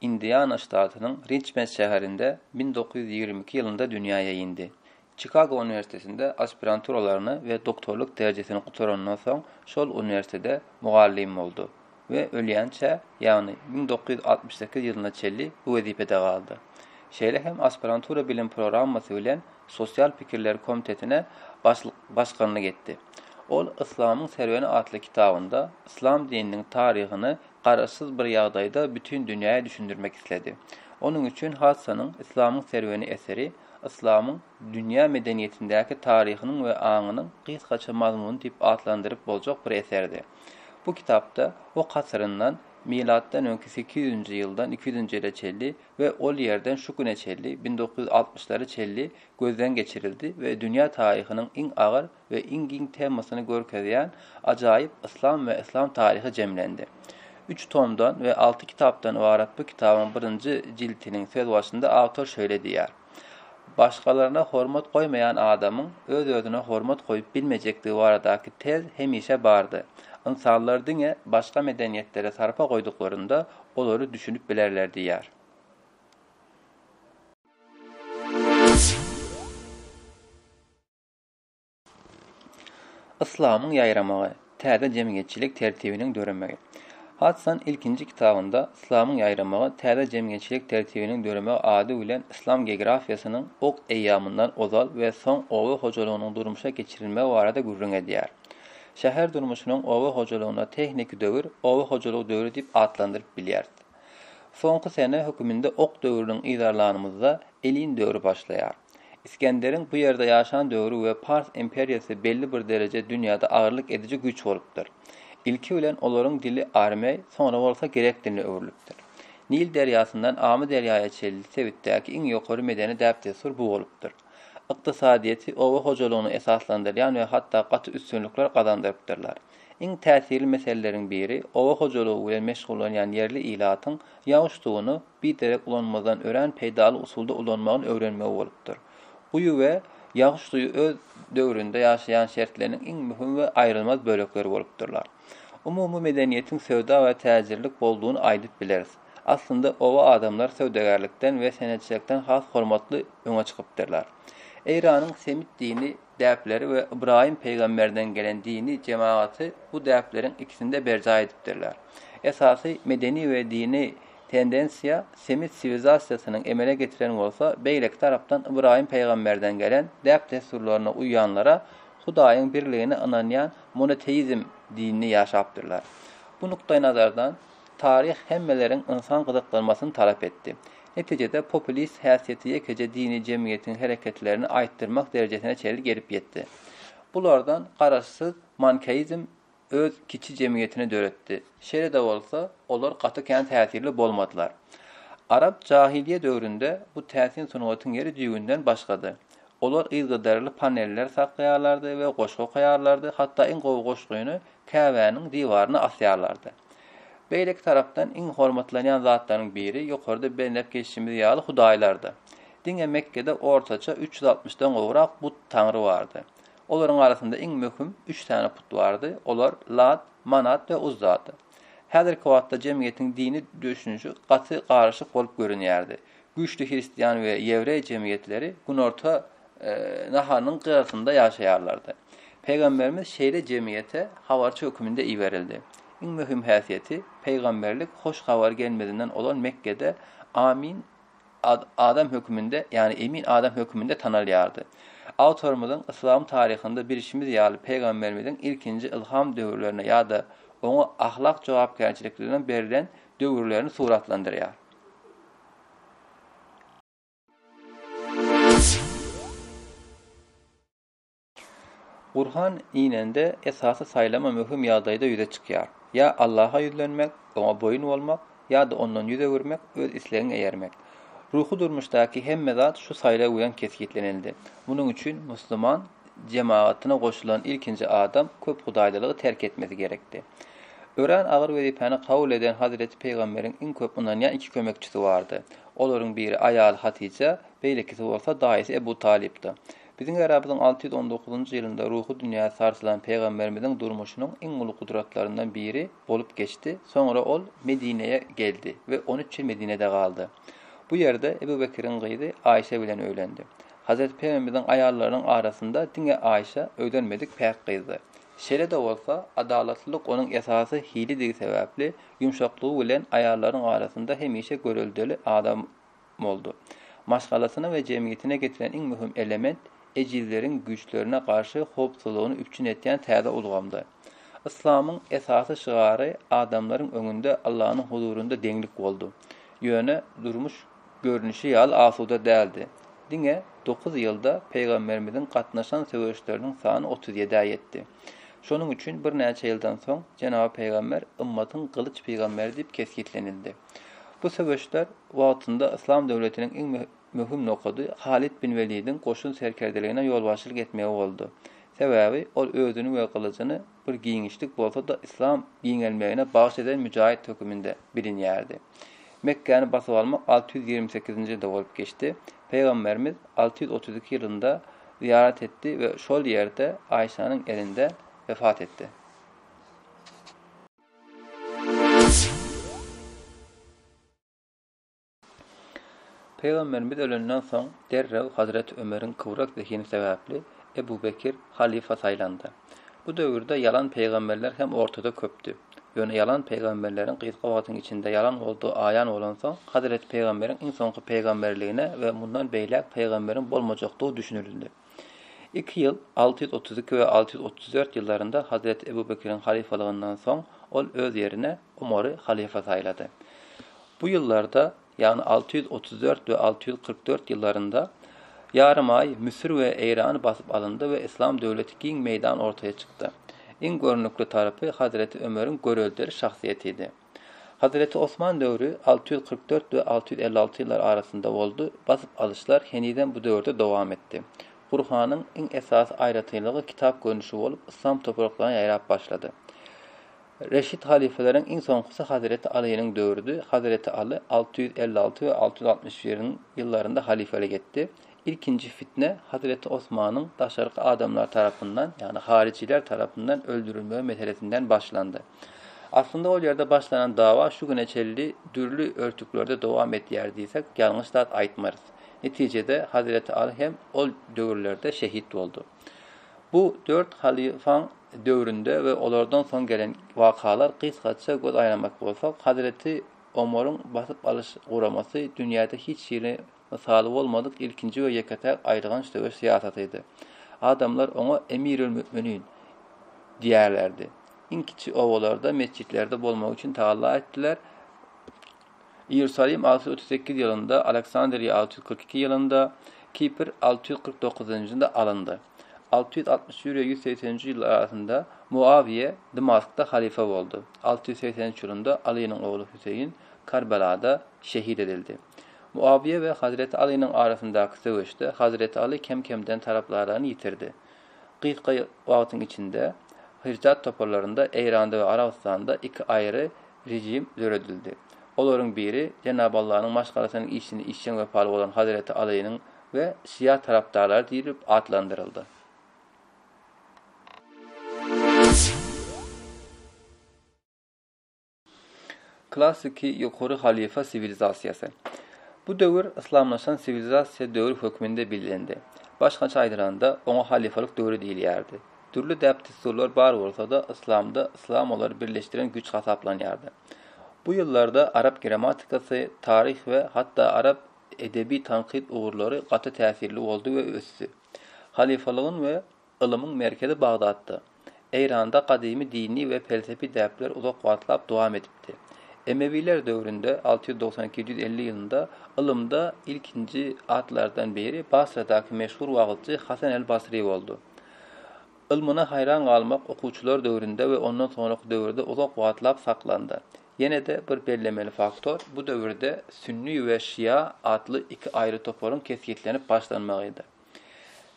Indiana ştatynyň Riçmend şäherinde bin dokuz ýüz ýigrimi iki ýylynda dünýäe indi. Çikago uniwersitetinde aspiranturalaryny we doktorlyk derejesini gutarandan soň şol uniwersitede mugallym boldy we ölýänçä, ýagny bin dokuz ýüz altmyş sekiz ýylyna çenli bu wezipede galdy. Şeýle hem aspirantura bilim programmasy bilen Sosial pikirler komitetine başlyk başganlyk etdi. Ol Yslamyň serweni atly kitabynda yslam dininiň taryhyny garaşsyz bir ýagdaýda bütin dünýä düşündirmek isledi. Onuň üçin Hadsanyň Yslamyň serweni eseri yslamyň dünýä medeniýetindäki taryhynyň we aňynyň gysgaça mazmuny diýip atlandyryp boljak bir eserdi. Bu kitapda Ok asyryndan, milatdan öňki sekiz ýüz nji ýyldan iki ýüz nji ýyla çelli we ol ýerden şu güne çelli, bin dokuz ýüz altmyşlara çelli gözden geçirildi we dünýä taryhynyň iň agyr we iň giň temasyny görkezýän ajaýyp Yslam we yslam taryhy jemlendi. Üç tomdan we alty kitapdan ybarat bu kitabyň birinji jiltiniň sözbaşynda awtor şeýle diýýär, Başgalaryna hormat goýmaýan adamyň öz-özüne hormat goýup bilmejekdigi baradaky tez hemişe bardy. Ynsanlar diňe başga medeniýetlere sarpa goýduklarynda olary düşünip bilerler diýýär. Yslamyň ýaýramagy, täze jemgyýetçilik tertibiniň döremegi. Hadsan ilkinji kitabynda Yslamyň ýaýramagy, täze jemgyýetçilik tertibiniň döremegi ady bilen yslam geografiýasynyň ok eýýamyndan ozal we soň oba hojalygynyň durmuşa geçirilmegi barada gürrüň edýär. Şäher durmuşynyň oba hojalygyna tehniki döwür, oba hojalygy döwri diýip atlandyryp bilýäris. Soňky sene höküminde ok döwrüniň yzarlanymyzda elin döwri başlaýar. Isgenderiň bu ýerde ýaşan döwri we Pars imperiýasy belli bir derejä dünýäde agyrlyk ediji güýç bolupdyr. Ilki bilen olaryň dili armeý, soňra bolsa grek diline öwrülipdir. Nil derýasyndan Amyderýaýa çenli sebitdäki iň ýokary medeni däp-dessur bu bolupdyr. Ykdysadyýeti oba hojalygyna esaslandyrýan we hatda gaty üstünlikler gazandyrypdyrlar. Iň täsirli meseleleriň biri oba hojalygy bilen meşgullanýan ýerli ilatyň ýagyş suwuny biderek ulanmazdan örän peýdaly usulda ulanmagyny öwrenmegi bolupdyr. Guýy we ýagyş suýy öz döwründe ýaşaýan şertleriniň iň möhüm we aýrylmaz bölekleri bolupdyrlar. Umumy medeniýetiň söwda we täjirlik boldugyny aýdyp bileris. Aslynda oba adamlary söwdagärlikden we senetçilikden has hormatly öňe çykypdyrlar. Eýranyň semit dini. däpleri we Ybraýym pygamberden gelen dini jemagaty bu däpleriň ikisinde berjaý edipdirler. Esasy medeni we dini tendensiýa semit siwilzasiýasynyň emele getiren bolsa, beýleki tarapdan Ybraýym pygamberden gelen däp-dessurlaryna uýýanlara Hudaýyň birligine ynanýan monoteizm dinini ýaşapdyrlar. Bu nukdaýnazardan Taryh hemmeleriň ynsan gyzyklanmasyny talap etdi. Netijede populist häsiýeti ýekeje dini jemgyýetiň hereketlerini aýtdyrmak derejesine çenli gelip ýetdi. Bulardan garaşsyz mankeizm öz kiçi jemgyýetini döretdi. Şeýle-de bolsa, olar gaty kän täsirli bolmadylar. Arap jahylýe döwründe bu täsin sungatyň ýeri düýbünden başgady. Olar yzgyderli paneller saklaýarlardy we goşgy okaýarlardy, hatda iň gowy goşgyny Käbäniň diwaryna asýarlardy. Beýleki tarapdan iň hormatlanýan zatlaryň biri ýokarda belläp geçişimiz ýaly hudaýlardy. Diňe Mekgede ortaça üç ýüz altmyşdan gowrak but, taňry, bardy. Olaryň arasynda iň möhüm üç sany put bardy, olar Lat, Manat we Uzzady. Häzirki wagtda jemgyýetiň dini döşünişi gaty garyşyk bolup görünýärdi. Güýçli hristian we ýewreý jemgyýetleri Günorta Naharynyň gyrasynda ýaşaýarlardy. Pygamberimiz şeýle jemgyýete habarçy höküminde iberildi. Iň möhüm häsiýeti, pygamberlik hoş habary gelmezinden ozal Mekgede Amin adam höküminde, ýagny emin adam höküminde tanalýardy. Awtorymyzyň yslam taryhynda bilşimiz ýaly pygamberimiziň ilkinji ylham döwürlerini ýa-da oňa ahlak jogapkärçilikligiň berlen döwürlerini suratlandyrýar. Gurhan inende esasy saýlama möhüm ýagdaýda ýüze çykýar. Ýa Allaha ýüzlenmek, Oňa boýun bolmak, ýa-da Ondan ýüz öwürmek, öz islegiňe eýermek. Ruhy durmuşdaky hemme zat şu saýlaw bilen kesgitlenildi. Munuň üçin musulman jemagatyna goşulan ilkinji adam köp hudaýlylygy terk etmesi gerekdi. Örän agyr wezipäni kabul eden Hazreti Pygamberiň iň köp ynanýan iki kömekçisi bardy. Olaryň biri aýaly Hatyja, beýlekisi bolsa daýysy Ebu Talypdy. Biziň äramyzyň alty ýüz on dokuzynjy ýylynda ruhy dünýäsi sarsylan Pygamberimiziň durmuşynyň iň uly gudratlaryndan biri bolup geçdi, soňra ol Medinä geldi we on üç ýyl Medinede galdy. Bu ýerde Ebu Bekiriň gyzy Aýşe bilen öýlendi. Hazreti Pygamberiň aýallarynyň arasynda diňe Aýşa öýlenmedik päk gyzdy. Şeýle-de bolsa, adalatlylyk onuň esasy hilidigi sebäpli, ýumşaklygy bilen aýallaryň arasynda hemişe göreldeli adam boldy. Maşgalasyna we jemgyýetine getiren iň möhüm element, ejizleriň güýçlerine garşy howpsuzlygyny üpjün etýän täze ulgamdy. Yslamyň esasy şygary adamlaryň öňünde Allanyň huzurynda deňlik boldy. Ýöne durmuş görnüşi ýaly asuda däldi. Diňe dokuz ýylda Pygamberimiziň gatnaşan söweşleriniň sany otuz ýedä ýetdi. Şonuň üçin birnäçe ýyldan soň Jenaby Pygamber ymmatyň gylyç pygamberi diýip kesgitlenildi. Bu söweşler wagtynda Yslam döwletiniň iň möhüm nokady Halit bin Welidiň goşun serkerdeligine ýolbaşçylyk etmegi boldy. Sebäbi ol özüni we gylyjyny Bir giňişlik bolsa-da yslam giňelmegine bagyş eden müjaýyt höküminde bilinýärdi. Mekgäni basyp almak alty ýüz ýigrimi sekizinji ýylda bolup geçdi. Pygamberimiz alty ýüz otuz iki ýylynda zyýarat etdi we şol ýerde Aýşanyň elinde wefat etdi. Pygamberimiz ölenden soň, derrew Hazreti Ömeriň kybrak zehini sebäpli Ebu Bekir halyfa saýlandy. Bu döwürde ýalan pygamberler hem ortada köpdi. Ýöne ýalan pygamberleriň gysga wagtyň içinde ýalan boldugy aýan bolansoň, Hazreti Pygamberiň iň soňky pygamberligine we mundan beýläk pygamberiň bolmajakdygy düşünildi. Iki ýyl, alty ýüz otuz iki we alty ýüz otuz dört ýyllarynda Hazreti Ebu Bekiriň halyfalygyndan soň ol öz ýerine Omary halyfa saýlady. Bu ýyllarda, ýagny alty ýüz otuz dört we alty ýüz kyrk dört ýyllarynda ýarym aý Müsür we Eýrany basyp alyndy we yslam döwleti giň meýdan ortaya çykdy. Iň görnükli tarapy Hazreti Ömeriň göreldeli şahsyýetidi. Hazreti Osman döwri alty ýüz kyrk dört we alty ýüz elli alty ýyllar arasynda boldy, basyp alyşlar henizem bu döwürde dowam etdi. Gurhanyň iň esasy aýratynlygy kitap görnüşi bolup, yslam topraklaryna ýaýrap başlady. Reşit halypaleriň iň soňkusy Hazreti Alynyň döwrüdi, Hazreti Aly alty ýüz elli alty we alty ýüz altmyş bir ýyllarynda halyfalik etdi, Ilkinji fitne Hazreti Osmanyň daşarky adamlar tarapyndan, ýagny haryjylar tarapyndan öldürilmegi meselesinden başlandy. Aslynda ol ýerde başlanan dawa şu güne çenli dürli örtüklerde dowam edýär diýsek, ýalňyş zat aýtmarys. Netijede, Hazreti Aly hem ol döwürlerde şehit boldy. Bu dört halyfaň döwründe we olardan soň gelen wakalar gysgaça göz aýlamak bolsak, Hazreti Omaryň basyp alyş guramasy dünýäde hiç hili Mysaly bolmadyk ilkinji we ýeke-täk aýylganç söweş syýasatydy. Adamlar oňa Emirül-Mü'minin diýerlerdi. Iň kiçi obalarda, metjitlerde bolmagy üçin tagalla etdiler. Iýerusalim alty ýüz otuz sekiz ýylynda, Aleksandriýa alty ýüz kyrk iki ýylynda, Kipr alty ýüz kyrk dokuzynjynda alyndy. Alty ýüz altmyş bir we ýüz segsen nji ýyllar arasynda Muawiýe Dmaskda halyfa boldy. Alty ýüz segsen üç ýylynda Alynyň ogly Hüseýin Karbelada şehit edildi. Muawiýe we Hazreti Alynyň arasyndaky söweşde Hazreti Aly kem-kemden tarapdararyny ýitirdi. Gysga wagtyň içinde Hirdat toparlarynda Eýranda we Arabystanda iki aýry rejim döredildi. Olaryň biri Jenab Allanyň maşgalasynyň işini işjeň wepaly bolan Hazreti Alynyň we Şia tarapdarlary diýlip atlandyryldy. Klassiki ýokary halyfa siwilizasiýasy. Bu döwür yslamlaşan siwilizasiýa döwri hökmünde bellendi. Başgaça aýdylanda, oňa halyfalyk döwri diýilýärdi. Dürli däp-dessurlar bar bolsa-da, yslamda yslam olary birleşdiren güýç hasaplanýardy. Bu ýyllarda arap grammatikasy, taryh we hatda arap edebi tankyt ugurlary gaty täsirli boldy we ösdi. Halyfalygyň we Ylymyň merkezi Bagdatda. Eýranda gadymy dini we pelsepi däpler uzak wagtlap dowam edipdi. Emewiler döwründe, alty ýüz doksan iki-ýedi ýüz elli ýylynda, ylymda ilkinji atlardan biri Basradaky meşhur wagyzçy Hasan el-Basry boldy. Ylmyna haýran galmak okuwçylar döwründe we ondan soňraky döwürde uzak wagtlap saklandy. Ýene-de bir bellemeli faktor, bu döwürde sünni we şia atly iki aýry toparyň kesgitlenip başlanmagydy.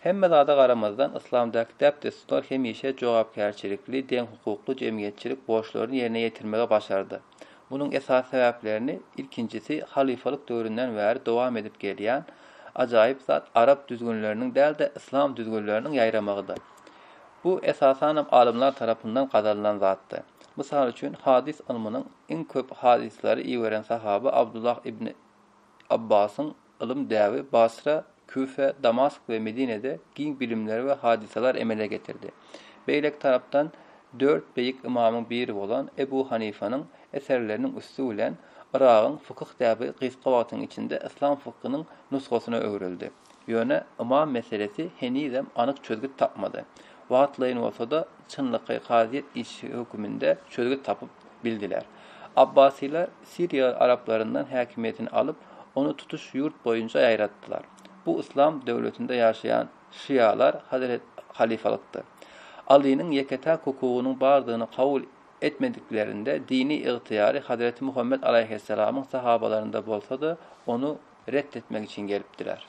Hemme zada garamazdan, yslamdaky däp-dessurlar hemişe jogapkärçilikli, deňhukukly jemgyýetçilik borçlaryny ýerine ýetirmegi başardy. Munuň esasy sebäplerini, ilkinjisi, halyfalyk döwründen bäri dowam edip gelýän ajaýyp zat arap düzgünleriniň däl-de, yslam düzgünleriniň ýaýramagydyr. Bu, esasanam, alymlar tarapyndan gazanylan zatdy. Mysal üçin, hadys ylmynyň iň köp hadyslary iberen sahaba Abdullah ibn Abbasyň Ylym däbi Basra, Küfe, Damask we Medinede giň bilimler we hadysalar emele getirdi. Beýleki tarapdan dört beýik ymamyň biri bolan Ebu Hanifanyň eserleriniň üsti bilen Yragyň fykyh däbi gysga wagtyň içinde yslam fykhynyň nusgasyna öwrüldi. Ýöne ymam meselesi henizem anyk çözgüt tapmady. Wagtlaýyn bolsa-da çynlakaý kazyýet işi höküminde çözgüt tapyp bildiler. Abbasylar. Siriýa araplaryndan häkimiýetini alyp, ony tutuş ýurt boýunça ýaýratdylar. Bu yslam döwletinde ýaşaýan şialar Hazret Halyfalykdyr. Alynyň ýeke-täk hukugynyň bardygyny kabul etmediklerinde dini ygtyýary Hazreti Muhammet alaýhyssalamyň sahabalarynda bolsa-da, ony ret etmek üçin gelipdiler.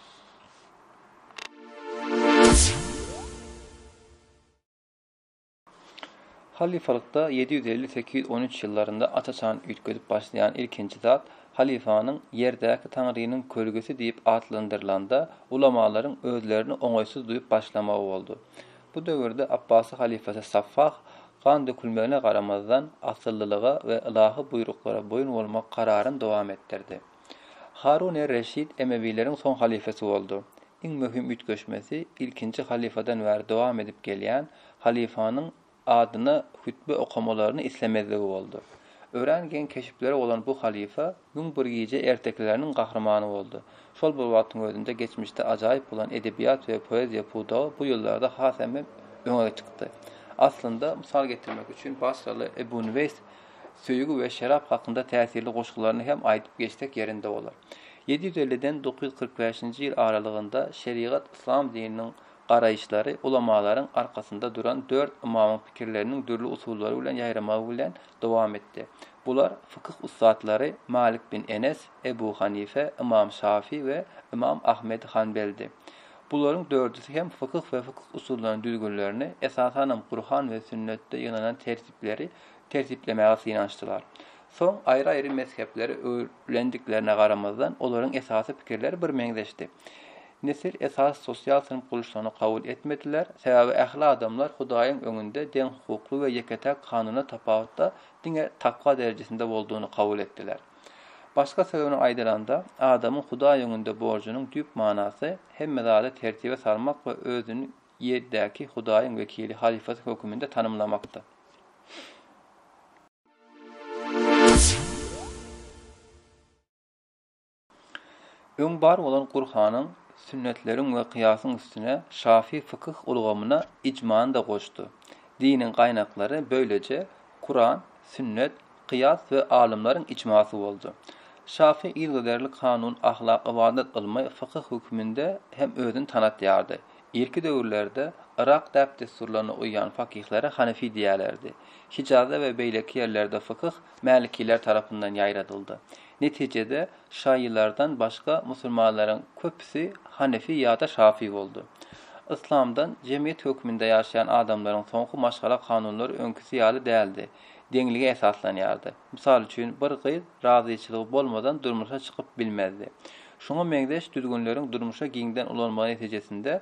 Halyfalykda ýedi ýüz elli-sekiz ýüz on üç ýyllarynda aç-açan üýtgedip başlaýan ilkinji zat halyfanyň Ýerdäki Taňrynyň kölgesi diýip atlandyrylanda ulamalaryň özlerini oňaýsyz duýup başlamagy boldy. Bu döwürde Apbasy halyfasy Saffah gan dökülmegine garamazdan, asyllylyga we ylahy buýruklara boýun bolmak kararyny dowam etdirdi. Harun er-Reşid emewileriň soň halyfasy boldy. Iň möhüm üýtgeşmesi ilkinji halyfadan bäri dowam edip gelýän halyfanyň adyna hütbe okamalaryny islemezligi boldy. Örän geň keşipleri bolan bu halyfa Müň bir gije ertekileriniň gahrymany boldy. Şol bir wagtyň özünde geçmişde ajaýyp bolan edebiýat we poeziýa pudagy bu ýyllarda hasam hem öňe çykdy. Aslynda, mysal getirmek üçin, basraly Ebu Nüweýs Söýgi we şerap hakynda täsirli goşgularyny hem aýdyp geçsek ýerinde bolar. Ýedi ýüz elliden dokuz ýüz kyrk bäşinji ýyl aralygynda şerigat yslam dininiň garaýyşlary ulamalaryň arkasynda duran dört ymamyň pikirleriniň dürli usullary bilen ýaýramagy bilen dowam etdi. Bular fykyh ussatlary Malik bin Enes, Ebu Hanife, Ymam Şafy we Ymam Ahmedi Hanbeldi. Bularyň dördüsi hem fykyh we fykyh usullarynyň düzgünlerini, esasanam Gurhan we sünnetde ýygnanan tertipleri tertiplemäge synanyşdylar. Soň aýry-aýry mezhepleri öwrülendiklerine garamazdan, olaryň esasy pikirleri birmeňzeşdi. Nesil esasy sosial synp gurluşygyny kabul etmediler, sebäbi ähli adamlar Hudaýyň öňünde deňhukukly we ýeke-täk kanuna tapawutda diňe takwa derejesinde boldugyny kabul etdiler. Başga söz bilen aýdylanda, adamyň Hudaý öňünde borjunyň düýp manasy, hemme zady tertibe salmak we özüni ýerdäki Hudaýyň wekili, halyfasy höküminde tanymlamakdyr. Öň bar bolan Gurhanyň, sünnetleriň we kyýasyň üstüne şafii fykyh ulgamyna ijmany-da goşdy. Diniň gaýnaklary böyleje Kuran, sünnet, kyýas we alymlaryň ijmasy boldy. Şafii yzygiderli kanun, ahlak, ybadat ylmy, fykyh höküminde hem özüni tanatýardy. Irki döwürlerde Yrak däp-dessurlaryna uýýan fakihlara hanefi diýerlerdi. Hijazda we beýleki ýerlerde fykyh mälikiler tarapyndan ýaýradyldy. Netijede, şaýylardan başga musulmanlaryň köpüsi hanefi ýa-da şafy boldy. Yslamdan jemgyýet hökmünde ýaşaýan adamlaryň soňky maşgala kanunlary öňküsi ýaly däldi, deňlige esaslanýardy. Mysal üçin, bir gyz razyçylygy bolmadan durmuşa çykyp bilmezdi. Şuňa meňzeş düzgünleriň durmuşa giňden ulanylmagy netijesinde,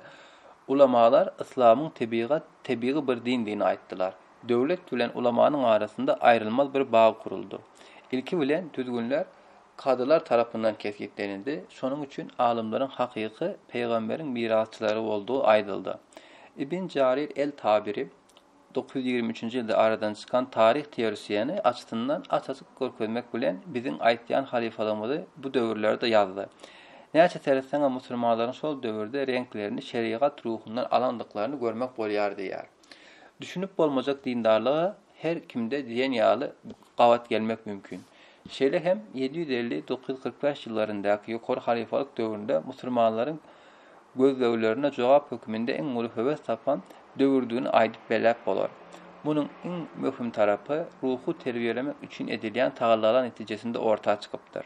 ulamalar yslamyň tebigat, tebigy bir dindigini aýtdylar. Döwlet bilen ulamanyň arasynda aýrylmaz bir bag guruldy. Ilki bilen düzgünler kadylar tarapyndan kesgitlenildi, şonuň üçin alymlaryň hakyky pygamberiň mirasçylary boldugy aýdyldy. Ibn Jarir el-Tabiri. Dokuz ýüz ýigrimi üçünji ýylda aradan çykan taryh teorisiýeni açysyndan aç-açyk görkezmek bilen biziň aýtýan halyfalygymyzy bu döwürlerde ýazdy. Näçe seretseňem musulmanlaryň şol döwürde reňklerini şerigat ruhundan alandyklaryny görmek bolýar diýýär. Düşünip bolmajak dindarlyga her kimde diýen ýaly gabat gelmek mümkin. Şeýle hem ýedi ýüz elli, dokuz ýüz kyrk bäş ýyllaryndaky ýokary halyfalyk döwründe musulmanlaryň gözleglerine jogap hökmünde iň uly höwes tapan döwürdigini aýdyp belläp bolar. Munuň iň möhüm tarapy ruhy terbiýelemek üçin edilýän tagallalar netijesinde orta çykypdyr.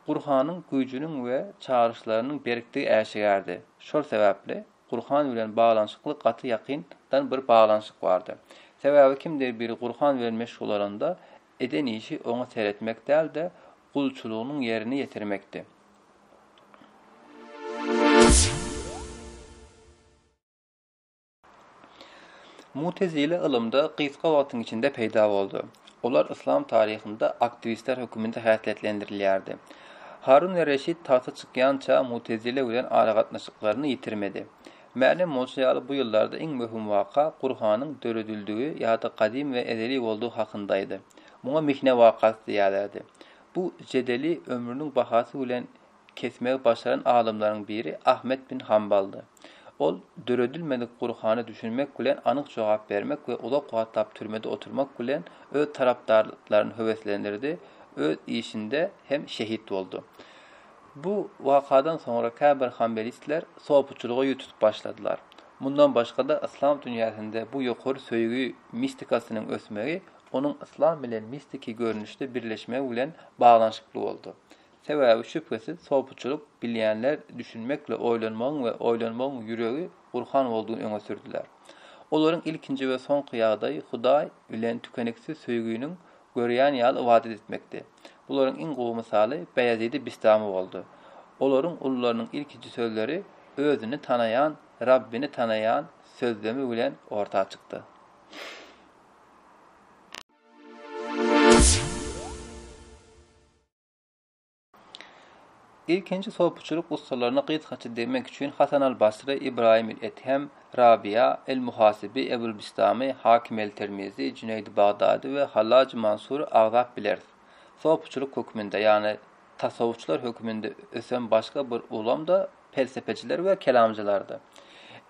Gurhanyň güýjüniň we çagyryşlarynyň berkdigi äşigärdi. Şol sebäpli Gurhan bilen baglanyşykly gaty ýakyn dan bir baglanyşyk bardy. Sebäbi kimdir biri Gurhan bilen meşgullananda eden işi oňa seretmek däl-de, gulçulygynyň ýerine ýetirmekde. Mutezile ylymda gysga wagtyň içinde peýda boldy. Olar yslam taryhynda aktiwistler höküminde häsiýetlendirilýärdi. Harun we Reşit tagta çykýança mutezile bilen aragatnaşyklaryny ýitirmedi. Mälim bolşy ýaly bu ýyllarda iň möhüm waka Gurhanyň döredildigi ýa-da gadymy we ezeli boldugy hakyndaydy. Muňa Mihne wakasy diýerlerdi. Bu jedeli ömrüniň bahasy bilen kesmegi başaran alymlaryň biri Ahmet bin Hambaldy. Ol döredilmedik Gurhana düşünmek bilen anyk jogap bermek we uzak wagtlap türmede oturmak bilen öz tarapdarlaryny höweslendirdi, öz işinde hem şehit boldy. Bu wakadan soňra käbir hambelistler sopuçylyga ýüz tutup başladylar. Mundan başga-da yslam dünýäsinde bu ýokary söýgi mistikasynyň ösmegi onuň yslam bilen mistiki görnüşde birleşmegi bilen baglanyşykly boldy. Sebäbi şübhesiz sopuçylyk bilýänler düşünmekle oýlanmagyň we oýlanmagyň ýüregi Gurhan boldugyny öňe sürdüler. Olaryň ilkinji we soňky ýagdaýy Hudaý bilen tükeniksiz söýginiň görýäni ýaly ybadat etmekdi. Bularyň iň gowy mysaly Beýazidi Bistami boldy. Olaryň ulularynyň ilkinji sözleri özüni tanaýan Rabbini tanaýan sözlemi bilen orta çykdy. Ilkinji sopyçylyk ussalaryna gysgaça degmek üçin Hasan al-Basry, Ybraýym il-Ethem, Rabyýa, el-Muhasyby, Ebul-Bistamy, Hakim el-Termizi, Jüneýdi Bagdady we Hallajy Mansury agzap bileris. Sopyçylyk hökmünde, ýagny tasawwufçylar hökmünde ösen başga bir ulam-da pelsepeçiler we kelamcylardy.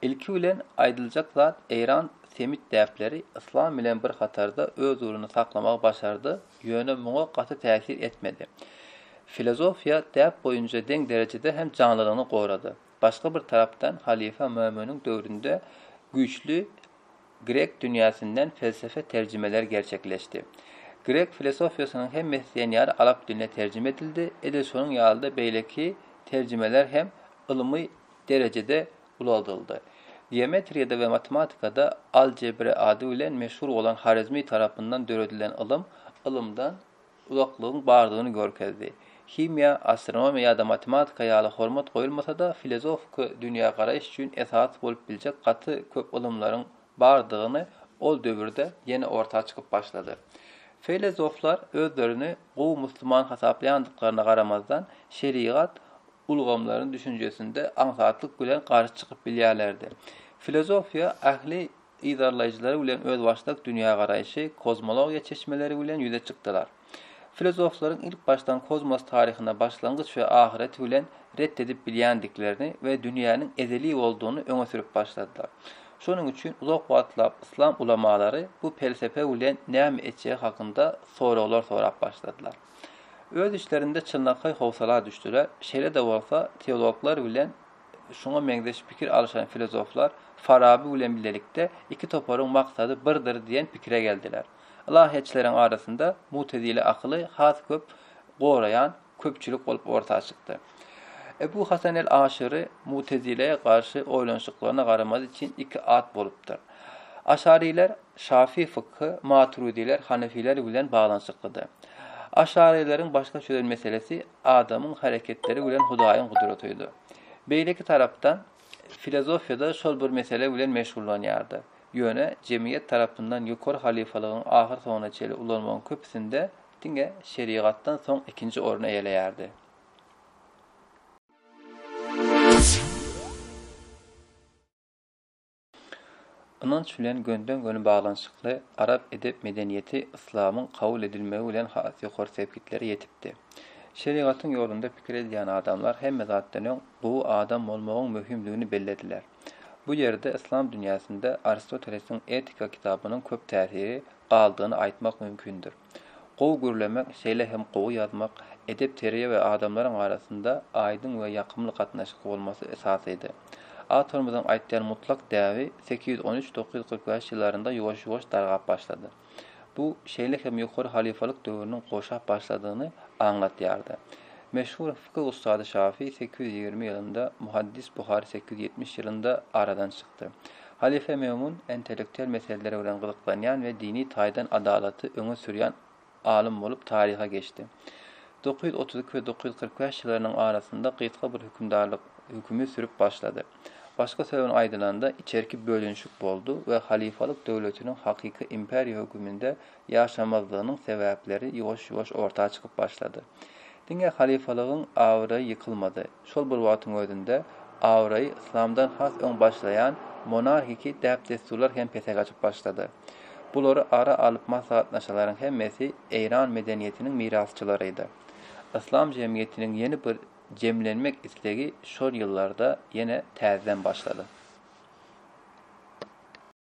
Ilki bilen aýdyljak zat Eýran semit däpleri yslam bilen bir hatarda öz uruny saklamagy başardy, ýöne muňa gaty täsir etmedi. Filozofiýa däp boýunca deň derejede hem janlylygyny gorady. Başga bir tarapdan halyfa Mömüniň döwründe güýçli Grek dünýäsinden pelsefe terjimeler gerçekleşdi. Grek filosofiýasynyň hem meslenýary alap diline terjime edildi, edil şonuň ýaly-da beýleki terjimeler hem ylmy derejede ulalyldy. Geometriýada we matematikada algebra ady bilen meşhur bolan Horezmi tarapyndan döredilen ylym, ylymdan, uzaklygyň bardygyny görkezdi. Himiýa, astronomiýa ýa-da matematika ýaly hormat goýulmasa-da, filozofiki dünýägaraýyş üçin esas bolup biljek gaty köp ylymlaryň bardygyny ol döwürde ýene orta çykyp başlady. Filozoflar özlerini gowy musulman hasaplaýandyklaryna garamazdan, şerigat ulgamlaryny düşünjesinde aňsatlyk bilen garşy çykyp bilýärlerdi. Filozofiýa ähli yzarlaýjylary bilen özbaşdak dünýägaraýşy, kozmologiýa çeşmeleri bilen ýüze çykdylar. Filozoflaryň ilkbaşdan kozmos taryhyna başlangyç we ahyreti bilen ret edip bilýändiklerini we dünýäniň ezeli boldugyny öňe sürüp başladylar. Şonuň üçin uzak wagtlap yslam ulamalary bu pelsepe bilen näme etjegi hakynda soraglar sorap başladylar. Öz içlerinde çynlakaý howsala düşdüler, şeýle-de bolsa, teologlar bilen Şuňa meňzeş pikir alyşan filozoflar Faraby bilen bilelikde iki toparyň maksady birdir diýen pikire geldiler. Ylahyýetçileriň arasynda mutezile akyly has köp goraýan köpçülik bolup orta çykdy. Ebu Hasan el-Aşyry mutezilä garşy oýlanyşyklaryna garamady üçin iki at bolupdyr. Aşarylar şafy fykhy, maturydiler hanefiler bilen baglanyşyklydy. Aşaryleriň başga çözen meselesi adamyň hereketleri bilen Hudaýyň gudratydy. Beýleki tarapdan, filozofiýada şol bir mesele bilen meşgullanýardy. Ýöne jemgyýet tarapyndan ýokary halyfalygyň ahyrsoňuna çenli ulanmagyň köpüsinde diňe şerigatdan soň ikinji orny eýeleýärdi. Ynanç bilen gönüden-göni baglanyşykly arap edep-medeniýeti yslamyň kabul edilmegi bilen has ýokary sepgitlere ýetipdi. Şerigatyň ýolunda pikir edýän adamlar hemme zatdan öň gowy adam bolmagyň möhümdigini bellediler. Bu ýerde yslam dünýäsinde Aristotelesiň Etika kitabynyň köp täsiri galdygyny aýtmak mümkindir. Gowy gürlemek, şeýle hem gowy ýazmak, edep-terbiýe we adamlaryň arasynda aýdyň we ýakymly gatnaşyk bolmasy esasydy. Awtorymyzyň aýtýan mutlak däbi sekiz ýüz on üç, dokuz ýüz kyrk bäş ýyllarynda ýuwaş-ýuwaş dargap başlady. Bu, şeýle hem ýokary halyfalyk döwrüniň goşap başladygyny aňlatýardy. Meşhur fiky ussady Şafy sekiz ýüz ýigrimi ýylynda, muhaddis Buhary sekiz ýüz ýetmiş ýylynda aradan çykdy. Halyfa Memun intellektual meseleler bilen gyzyklanýan we dini taýdan adalaty öňe sürýän alym bolup taryha geçdi. Dokuz ýüz otuz iki we dokuz ýüz kyrk bäş ýyllarynyň arasynda gysga bir hökümdarlyk hökümi sürüp başlady. Başga söz bilen aýdylanda, içerki bölünişik boldy we halyfalyk döwletiniň hakyky imperiýa höküminde ýaşamazlygynyň sebäpleri ýuwaş-ýuwaş orta çykyp başlady. Diňe halyfalygyň abraýy ýykylmady. Şol bir wagtyň özünde, abraýy yslamdan has öň başlaýan monarhiki däp-dessurlar hem pese gaçyp başlady. Bulary ara alyp maslahatlaşanlaryň hemmesi eýran medeniýetiniň mirasçylarydy. Yslam jemgyýetiniň ýeni bir jemlenmek islegi şol ýyllarda ýene täzeden başlady.